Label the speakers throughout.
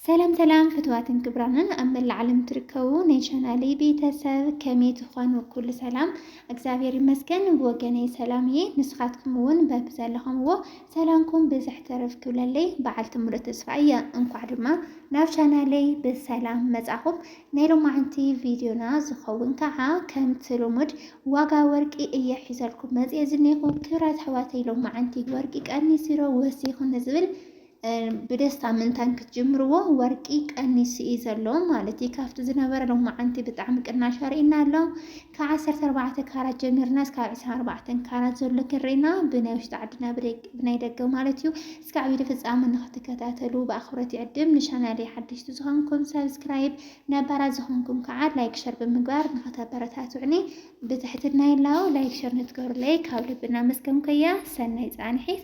Speaker 1: ሰላም ሰላም ፍትዋትን ክብራንን ኣብ መላእ ዓለም ትርከቡ ናይ ቻናሊ ቤተሰብ ከመይ ትኾኑ? ኩሉ ሰላም እግዚኣብሔር ይመስገን። ብወገነይ ሰላም እየ። ንስኻትኩም እውን በቢ ዘለኹምዎ ሰላምኩም ብዝሕ ተረፍ ክብለለይ በዓልቲ ሙሉእ ተስፋ እየ። እንኳዕ ድማ ናብ ቻናለይ ብሰላም መጻኹም። ናይ ሎማዓንቲ ቪድዮና ዝኸውን ከዓ ከምቲ ልሙድ ዋጋ ወርቂ እየ ሒዘልኩም መጽየ ዝኔኹ ክብራት ኣሕዋተይ ሎማዓንቲ ወርቂ ቀኒሲሮ ወሲኹ ንዝብል ብደስታ ምእንታን ክትጅምርዎ ወርቂ ቀኒሱ እዩ ዘሎ ማለት እዩ። ካብቲ ዝነበረ ሎማዓንቲ ብጣዕሚ ቅናሽ ኣርእና ኣሎ። ካብ ዓሰርተ ኣርባዕተ ካራት ጀሚርና እስካብ ዕስራን ኣርባዕተን ካራት ዘሎ ክሪና ብናይ ውሽጢ ዓድና ብናይ ደገ ማለት እዩ። እስካብ ቪድዮ ፍፃመ ንክትከታተሉ ብኣኽብሮት ይዕድም። ንቻናለይ ሓደሽቲ ዝኾንኩም ሳብስክራይብ፣ ነባራት ዝኾንኩም ከዓ ላይክ ሸር ብምግባር ንኸተበረታትዑኒ ብትሕትና ይላው። ላይክ ሸር ንትገብሩለይ ካብ ልቢ እናመስገንኩ እየ። ሰናይ ፃንሒት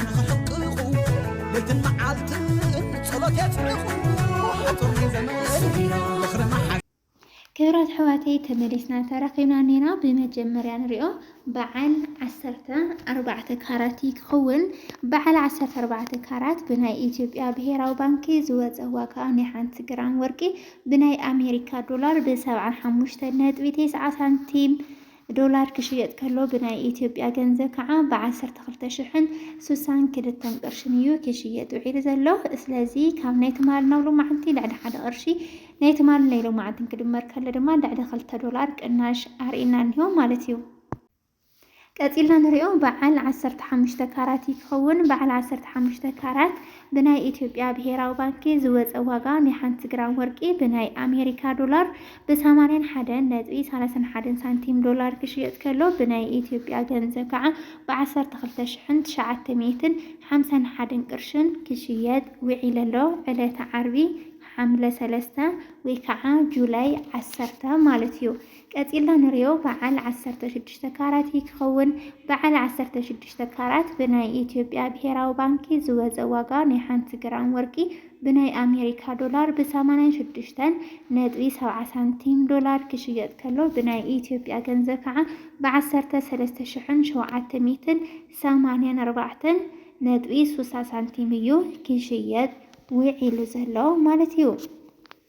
Speaker 1: ንኽሕቅቑ ለይትን መዓልትን ጸሎት የጽዕቑ ሓጹር ናይ ዘመን ዝኽሪ መሓ ክብራት ኣሕዋተይ ተመሊስና ተራኺብና ኔና ብመጀመርያ ንሪኦ በዓል ዓሰርተ ኣርባዕተ ካራት እዩ ክኸውን በዓል ዓሰርተ ኣርባዕተ ካራት ብናይ ኢትዮጵያ ብሄራዊ ባንኪ ዝወፀ ዋጋ ናይ ሓንቲ ግራም ወርቂ ብናይ ኣሜሪካ ዶላር ብሰብዓን ሓሙሽተ ነጥቢ ቴስዓ ሳንቲም ዶላር ክሽየጥ ከሎ ብናይ ኢትዮጵያ ገንዘብ ከዓ ብዓሰርተ ክልተ ሽሕን ስሳን ክልተን ቅርሽን እዩ ክሽየጥ ውዒሉ ዘሎ። ስለዚ ካብ ናይ ትማል ናብ ሎማዓንቲ ልዕሊ ሓደ ቅርሺ ናይ ትማል ናይ ሎማዓንትን ክድመር ከሎ ድማ ልዕሊ ክልተ ዶላር ቅናሽ ኣርእና እኒሆ ማለት እዩ። ቀፂልና ንሪኦ በዓል ዓሰርተ ሓሙሽተ ካራት ይኸውን። በዓል ዓሰርተ ሓሙሽተ ካራት ብናይ ኢትዮጵያ ብሄራዊ ባንኪ ዝወፀ ዋጋ ናይ ሓንቲ ግራም ወርቂ ብናይ ኣሜሪካ ዶላር ብ ሰማንያን ሓደን ነጥቢ ሰላሳን ሓደን ሳንቲም ዶላር ክሽየጥ ከሎ ብናይ ኢትዮጵያ ገንዘብ ከዓ ብ ዓሰርተ ክልተ ሽሕን ትሽዓተ ሚእትን ሓምሳን ሓደን ቅርሽን ክሽየጥ ውዒለ ኣሎ ዕለተ ዓርቢ ሓምለ ሰለስተ ወይ ከዓ ጁላይ ዓሰርተ ማለት እዩ። ቀጺልና ንሪኦ በዓል ዓሰርተ ሽዱሽተ ካራት እዩ ክኸውን። በዓል ዓሰርተ ሽዱሽተ ካራት ብናይ ኢትዮጵያ ብሄራዊ ባንኪ ዝወፀ ዋጋ ናይ ሓንቲ ግራም ወርቂ ብናይ ኣሜሪካ ዶላር ብሰማንያን ሽዱሽተን ነጥቢ ሰብዓ ሳንቲም ዶላር ክሽየጥ ከሎ ብናይ ኢትዮጵያ ገንዘብ ከዓ ብዓሰርተ ሰለስተ ሽሕን ሸውዓተ ሚእትን ሰማንያን ኣርባዕተን ነጥቢ ሱሳ ሳንቲም እዩ ክሽየጥ ውዒሉ ዘሎ ማለት እዩ።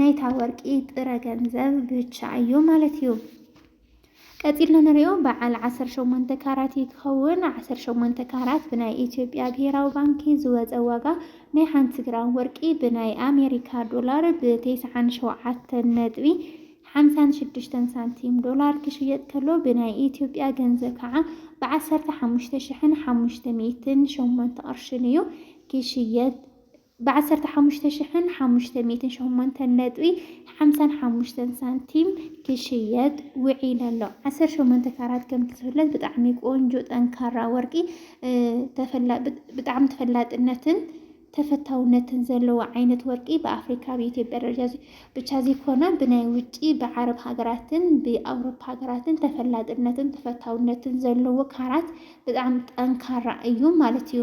Speaker 1: ናይታ ወርቂ ጥረ ገንዘብ ብቻ እዩ ማለት እዩ። ቀፂልና ንሪኦ በዓል 18 ካራት እዩ ክኸውን። 18 ካራት ብናይ ኢትዮጵያ ብሄራዊ ባንኪ ዝወፀ ዋጋ ናይ ሓንቲ ግራም ወርቂ ብናይ ኣሜሪካ ዶላር ብ97 ነጥቢ 56 ሳንቲም ዶላር ክሽየጥ ከሎ ብናይ ኢትዮጵያ ገንዘብ ከዓ ብ15,508 ቅርሽን እዩ ክሽየጥ ብ ዓሰርተ ሓሙሽተ ሽሕን ሓሙሽተ ሚእትን ሸሞንተን ነጥቢ ሓምሳን ሓሙሽተን ሳንቲም ክሽየጥ ውዒለ ኣሎ። ዓሰርተ ሸሞንተ ካራት ከምቲ ዝፍለጥ ብጣዕሚ ቆንጆ ጠንካራ ወርቂ ብጣዕሚ ተፈላጥነትን ተፈታውነትን ዘለዎ ዓይነት ወርቂ ብኣፍሪካ ኣብ ኢትዮጵያ ደረጃ ብቻ ዘይኮነ ብናይ ውጪ ብዓረብ ሃገራትን ብኣውሮፓ ሃገራትን ተፈላጥነትን ተፈታውነትን ዘለዎ ካራት ብጣዕሚ ጠንካራ እዩ ማለት እዩ።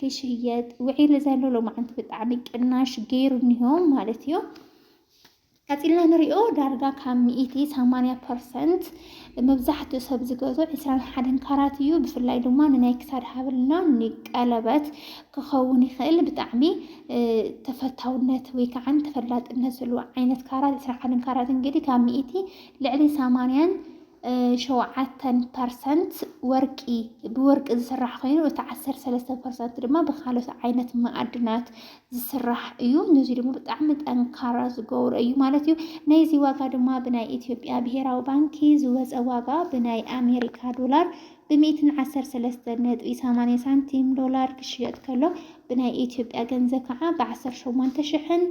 Speaker 1: ክሽየጥ ውዒሉ ዘሎ ሎማዓንቲ ብጣዕሚ ቅናሽ ገይሩ እኒሆ ማለት እዩ። ቀፂልና ንሪኦ ዳርጋ ካብ ሚኢቲ ሰማንያ ፐርሰንት መብዛሕትኡ ሰብ ዝገዞ ዕስራን ሓደን ካራት እዩ። ብፍላይ ድማ ንናይ ክሳድ ሃብልና ንቀለበት ክኸውን ይኽእል ብጣዕሚ ተፈታውነት ወይ ከዓ ተፈላጥነት ዘለዎ ዓይነት ካራት ዕስራን ሓደን ካራት እንግዲህ ካብ ሚኢቲ ልዕሊ ሰማንያን ሸውዓተን ፐርሰንት ወርቂ ብወርቂ ዝስራሕ ኮይኑ እቲ ዓሰርተ ሰለስተ ፐርሰንት ድማ ብካልኦት ዓይነት መኣድናት ዝስራሕ እዩ። ነዚ ድማ ብጣዕሚ ጠንካራ ዝገብሮ እዩ ማለት እዩ። ናይዚ ዋጋ ድማ ብናይ ኢትዮጵያ ብሄራዊ ባንኪ ዝወፀ ዋጋ ብናይ ኣሜሪካ ዶላር ብሚእትን ዓሰርተ ሰለስተ ነጥቢ ሰማንያ ሳንቲም ዶላር ክሽየጥ ከሎ ብናይ ኢትዮጵያ ገንዘብ ከዓ ብዓሰርተ ሸሞንተ ሽሕን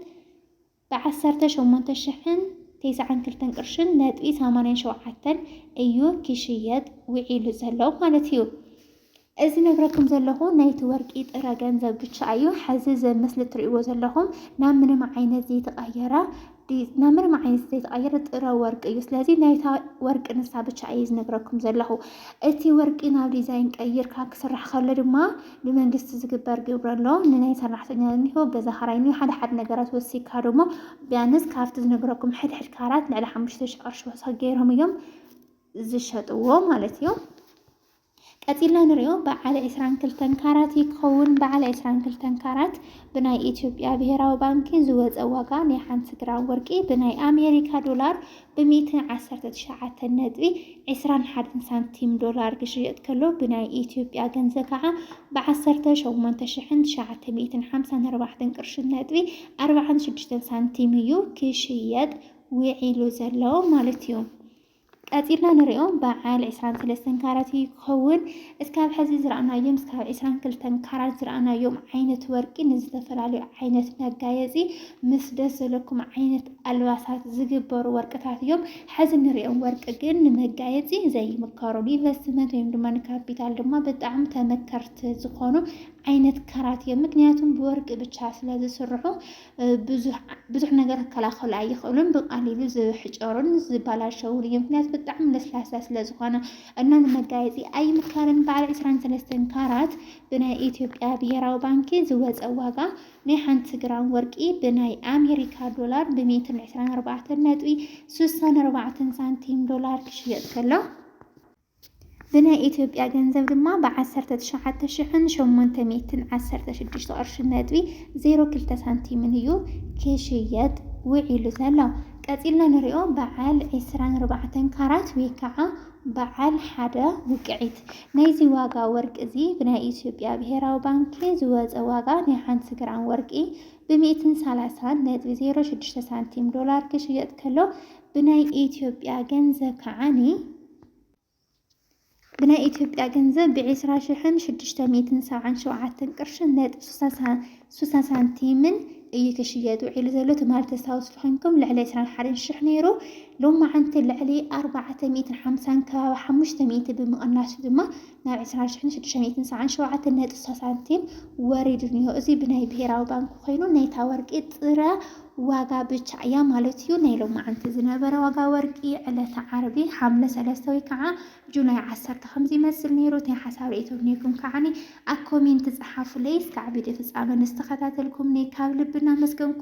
Speaker 1: ብ ዓሰርተ ሸሞንተ ሽሕን ቴስዓን ክልተን ቅርሽን ነጥቢ ሰማንያን ሸውዓተን እዩ ኪሽየጥ ውዒሉ ዘሎ ማለት እዩ። እዚ ዝነግረኩም ዘለኹ ናይቲ ወርቂ ጥረ ገንዘብ ብቻ እዩ። ሐዚ እዚ ምስሊ እትሪእዎ ዘለኹም ናብ ምንም ዓይነት ዘይተቐየረ ናብ ምንም ዓይነት ዘይተቐየረ ጥረ ወርቂ እዩ። ስለዚ ናይታ ወርቂ ንሳ ብቻ እየ ዝነግረኩም ዘለኹ። እቲ ወርቂ ናብ ዲዛይን ቀይርካ ክስራሕ ከሎ ድማ ብመንግስቲ ዝግበር ግብሪ ኣሎ ንናይ ሰራሕተኛ እኒሆ ገዛ ኸራይ እኒሆ ሓደ ሓደ ነገራት ወሲካ ደሞ ቢያንስ ካብቲ ዝነግረኩም ሕድ ሕድ ካራት ልዕሊ ሓሙሽተ ሽሕ ቅርሺ ወሰኽ ገይሮም እዮም ዝሸጥዎ ማለት እዩ ቀፂልና ንሪኦ በዓል ዕስራን ክልተን ካራት ይከውን በዓል ዕስራን ክልተን ካራት ብናይ ኢትዮጵያ ብሄራዊ ባንኪ ዝወፀ ዋጋ ናይ ሓንቲ ግራም ወርቂ ብናይ ኣሜሪካ ዶላር ብሚእቲ ዓሰርተ ትሽዓተ ነጥቢ ዕስራን ሓደን ሳንቲም ዶላር ክሽየጥ ከሎ ብናይ ኢትዮጵያ ገንዘብ ከዓ ብዓሰርተ ሸሞንተ ሽሕን ትሽዓተ ሚእትን ሓምሳን ኣርባዕተን ቅርሽን ነጥቢ ኣርባዓን ሽዱሽተን ሳንቲም እዩ ክሽየጥ ውዒሉ ዘሎ ማለት እዩ። ቀፂልና ንሪኦ በዓል ዕስራን ሰለስተን ካራት እዩ ክኸውን። እስካብ ሐዚ ዝረኣናዮም እስካብ ዕስራን ክልተን ካራት ዝረኣናዮም ዓይነት ወርቂ ንዝተፈላለዩ ዓይነት መጋየፂ ምስ ደስ ዘለኩም ዓይነት ኣልባሳት ዝግበሩ ወርቅታት እዮም። ሐዚ ንሪኦም ወርቂ ግን ንመጋየፂ ዘይምከሩ ንኢንቨስትመንት ወይም ድማ ንካፒታል ድማ ብጣዕሚ ተመከርቲ ዝኾኑ ዓይነት ካራት እዮም። ምክንያቱም ብወርቂ ብቻ ስለዝስርሑ ብዙሕ ነገር ክከላኸሉ ኣይኽእሉን። ብቃሊሉ ዝሕጨሩን ዝበላሸውን እዮም። ምክንያቱ ብጣዕሚ ለስላሳ ስለዝኾነ እና ንመጋየፂ ኣይምከርን። በዓል ዕስራን ሰለስተን ካራት ብናይ ኢትዮጵያ ብሄራዊ ባንኪ ዝወፀ ዋጋ ናይ ሓንቲ ግራም ወርቂ ብናይ ኣሜሪካ ዶላር ብሜትን ዕስራን ኣርባዕተን ነጥቢ ስሳን ኣርባዕተን ሳንቲም ዶላር ክሽየጥ ከሎ ብናይ ኢትዮጵያ ገንዘብ ድማ ብ ዓሰርተ ትሽዓተ ሽሕን ሸሞንተ ሚእትን ዓሰርተ ሽዱሽተ ቅርሺ ነጥቢ ዜሮ ክልተ ሳንቲምን እዩ ክሽየጥ ውዒሉ ዘሎ። ቀጺልና ንሪኦ በዓል ዕስራን ኣርባዕተን ካራት ወይ ከዓ በዓል ሓደ ውቅዒት። ናይዚ ዋጋ ወርቂ እዚ ብናይ ኢትዮጵያ ብሄራዊ ባንኪ ዝወፀ ዋጋ ናይ ሓንቲ ግራም ወርቂ ብ ሚእትን ሰላሳን ነጥቢ ዜሮ ሽዱሽተ ሳንቲም ዶላር ክሽየጥ ከሎ ብናይ ኢትዮጵያ ገንዘብ ከዓኒ ብናይ ኢትዮጵያ ገንዘብ ብዒስራ ሽሕን ሽዱሽተ ሚእትን ሰብዓን ሸውዓተን ቅርሽን ነጥቢ ሱሳ ሳንቲምን እዩ ክሽየጥ ውዒሉ ዘሎ ትማል ተስታውስሉ ኮይንኩም ልዕሊ ዕስራን ሓደን ሽሕ ነይሩ ሎማዓንቲ ልዕሊ ኣርባዕተ ሚእትን ሓምሳን ከባቢ ሓሙሽተ ሚእቲ ብምቕናሱ ድማ ናብ ዕስራን ሽሕን ሽዱሽተ ሚእትን ሰብዓን ሸውዓተን ነጥቢ ስሳ ሳንቲም ወሪዱ እኒሆ። እዚ ብናይ ብሄራዊ ባንኪ ኮይኑ ናይታ ወርቂ ጥረ ዋጋ ብቻ እያ ማለት እዩ። ናይ ሎማዓንቲ ዝነበረ ዋጋ ወርቂ ዕለተ ዓርቢ ሓምለ ሰለስተ ወይ ከዓ ጁላይ ዓሰርተ ከምዚ ይመስል ነይሩ። እቲ ሓሳብ ርእይቶ ነይኩም ከዓኒ ኣብ ኮሜንት ፀሓፉለይ። እስካዕ ቪድዮ ፍፃመ ንዝተኸታተልኩምኒ ካብ ልቢ እናመስገንኩ